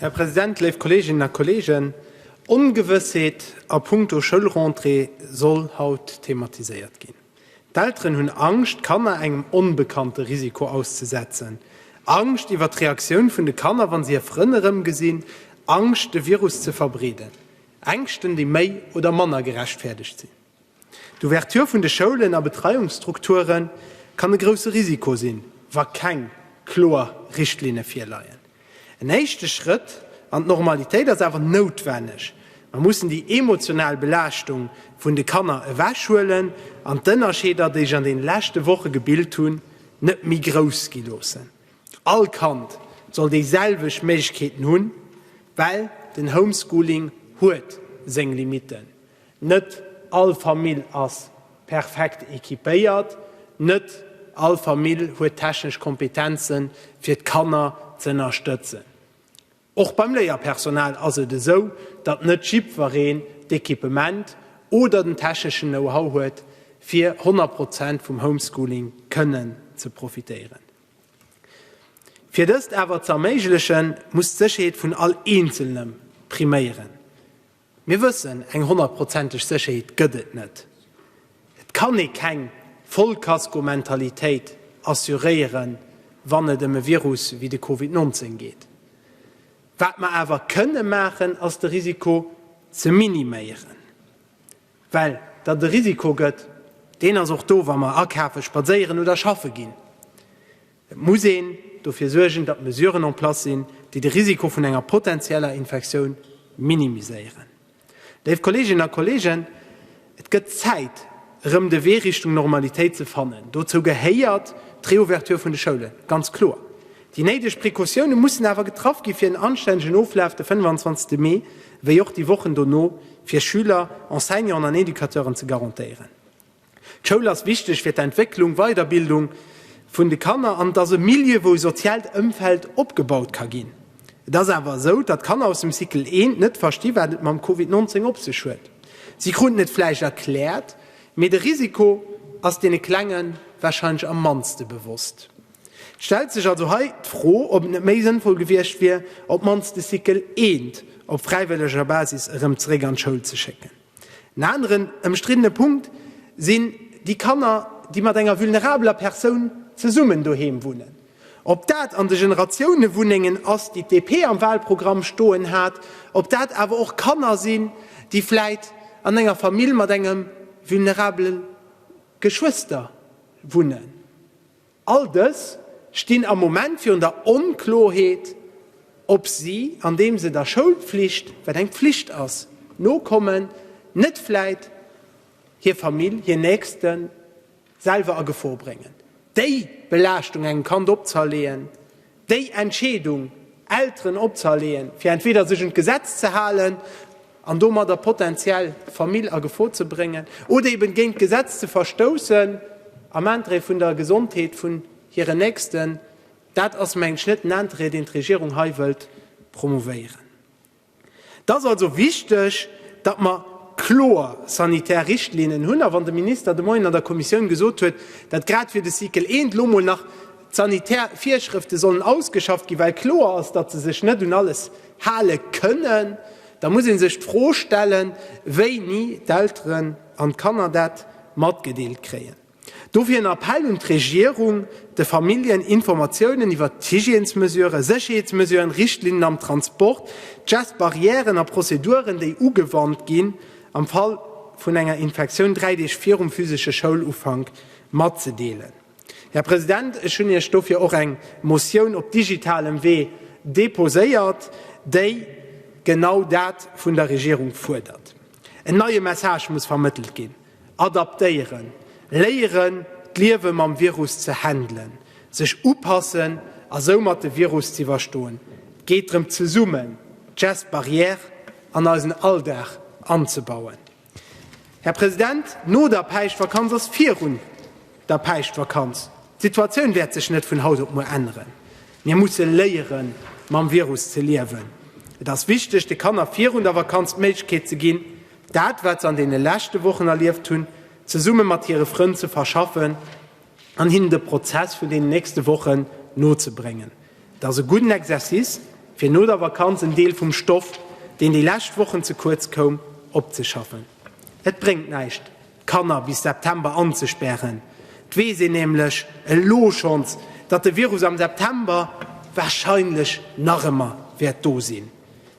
Här President, léif Kolleeginnen a Kolleegen, Ongewëssheet a punkto Schoulrentrée soll haut thematiséiert ginn. D'Elteren hunn Angscht, d'Kanner engem onbekannte Risiko auszesetzen, Angscht iwwer d'Reaktioun vun de Kanner, wa se hir Frënn erëmgesinn, Angscht, de Virus ze verbreeden. Ängschten, déi méi oder manner gerechtfäerdegt sinn. D'Ouverture vun de Schoulen a Betreiungsstrukture kann e grousse Risiko sinn, wa keng kloer Richtlinne virleien. En éischte Schrëtt an d'Normalitéit ass awer noutwenneg. Mer mussen déi emotional Belaaschtung vun de Kanner ewechhuelen an d'Ënnerscheeder, déi sech an deene leschte Woche gebilt hunn, net méi grouss gi loossen. All Kand soll déiselwecht Méiglechkeeten hunn, well den Homeschooling huet seng Limitten. Net all Famill ass perfekt equipéiert, net all Famill huet d'technesch Kompetenzen, fir d'Kanner z'ënnerstëtzen. Och beim Léierpersonal ass et esou, datt net jiddwereen d'Equipement oder den techneschen Know-how huet, fir 100 Prozent vum Homeschooling kënnen ze profitéieren. Fir dëst awer z'erméiglechen, muss d'Sécherheet vun all Eenzelnem priméieren. Mir wëssen, eng honnertprozenteg Sécherheet gëtt et net. Et kann ee keng Vollkaskomentalitéit assuréieren, wann et ëm e Virus wéi de Covid 19 geet. Wat mer awer kënne maachen, ass de Risiko ze miniméieren. Well datt e Risiko gëtt, deen ass och do, wa mer akafe, spadséieren oder schaffe ginn. Et muss een dofir suergen, datt Mesuren en place sinn, déi de Risiko vun enger potenzieller Infektioun minimiséieren. Léif Kolleeginnen a Kolleegen, et gëtt Zäit, erëm de Wee Richtung Normalitéit ze fannen. Dozou gehéiert d'Reouverture vun de Schoulen, ganz kloer. Déi néideg Precautioune mussen awer getraff ginn, fir en anstännegen Oflaf de 25. Mee wéi och déi Wochen dono fir Schüler, Enseignanten an Educateuren ze garantéieren. D'Schoul ass wichteg fir d'Entwécklung, Weiderbildung vun de Kanner an et ass e Milieu, wou e soziaalt Ëmfeld opgebaut ka ginn. Et ass awer esou, datt d'Kanner aus dem Cycle I net versti wat et mam Covid 19 op sech huet. Si kruten et vläicht erkläert, mee de Risiko ass deene Klenge warscheinlech am mannste bewosst. Et stellt sech also hei d'Fro, ob et net méi sënnvoll gewiescht wier, op d'mannst de Cycle I op fräiwëlleger Basis erëm zeréck an d'Schoul ze schécken. En aneren ëmstriddene Punkt sinn déi Kanner, déi mat enger vulnerabeler Persoun zesummen doheem wunnen. Ob dat an de Generatiounewunnengen ass, déi d'DP am Wahlprogramm stoen hat, ob dat awer och Kanner sinn, déi vläit an enger Famill mat engem vulnerabele Geschwëster wunnen. All dës stinn am Moment virun der Onkloerheet, ob si, andeem se der Schoulpflicht, wat eng Pflicht ass, nokommen, net vläit hir Famill, hir Nächsten selwer a Gefor bréngen. Déi Belaaschtung engem Kand opzerleeën, Déi Entscheedung, Elteren opzehaleeën, fir entweder sech un d'Gesetz ze halen an domadder potenziell d'Famill a Gefor ze bréngen oder eben géint d'Gesetz ze verstoussen am Interêt vun der Gesondheet vun hiren Nächsten, dat ass, meng ech, net den Interêt, deen d'Regierung hei wëllt promouvéieren. Et ass also wichteg, datt mer kloer sanitär Richtlinnen hunn. A wann de Minister de Moien an der Kommissioun gesot huet, datt grad fir de Cycle I elo mol nach d'sanitär Virschrëfte sollen ausgeschafft ginn, well kloer ass, datt se sech net un alles hale kënnen, da muss ee sech d'Fro stellen, wéini d'Elteren an d'Kanner dat matgedeelt kréien. Dofir en Appell un d'Regierung, de Familljen Informatiounen iwwert d'Hygiènesmesuren, Sécherheetsmesuren, Richtlinnen am Transport, d'Gestes barrièren a Prozeduren, déi ugewannt ginn, am Fall vun enger Infektioun dräi Deeg virum physesche Schoulufank matzedeelen. Här President, ech hunn Iech dofir och eng Motioun op digitalem Wee deposéiert, déi genau dat vun der Regierung fuerdert. En neie Message muss vermëttelt ginn. Adaptéieren, Léieren, d'Liewe mam Virus ze handelen, sech upassen a soumat de Virus z'iwwerstoen. Et geet drëm, zesummen d'Gestes barrières an eisen Alldag anzebauen. Här President, no der Päischtvakanz ass virun der Päischtvakanz. D'Situatioun wäert sech net vun haut op muer änneren. Mir musse léieren, mam Virus ze liewen. Et ass wichteg, de Kanner virun der Vakanz d'Méiglechkeet ze ginn, Dat, wat se an deene leschte Wochen erlieft hunn, zesumme mat hire Frënn ze verschaffen an hinnen de Prozess vun deenen nächste Wochen nozebréngen, et ass e gudden Exercice, fir no der Vakanz en Deel vum Stoff, deen déi lescht Wochen ze kuerz koum, opzeschaffen. Et bréngt näischt, Kanner bis September anzespären. Et weess een nämlech elo schonns, datt de Virus am September warscheinlech nach ëmmer wäert do sinn.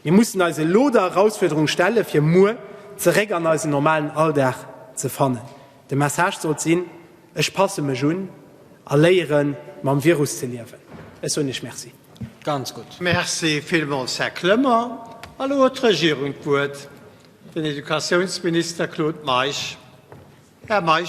Mir mussen eis elo der Erausfuerderung stellen, fir muer zeréck an eisen normalen Alldag ze fannen. De Message sollt sinn, Ech passe mech un a léiere mam Virus ze liewen. Ech soen Iech Merci. Ganz gutt. Merci villmools, Här Clement. Elo huet d'Regierung d'Wuert. Den Educatiounsminister Claude Meisch. Här Meisch.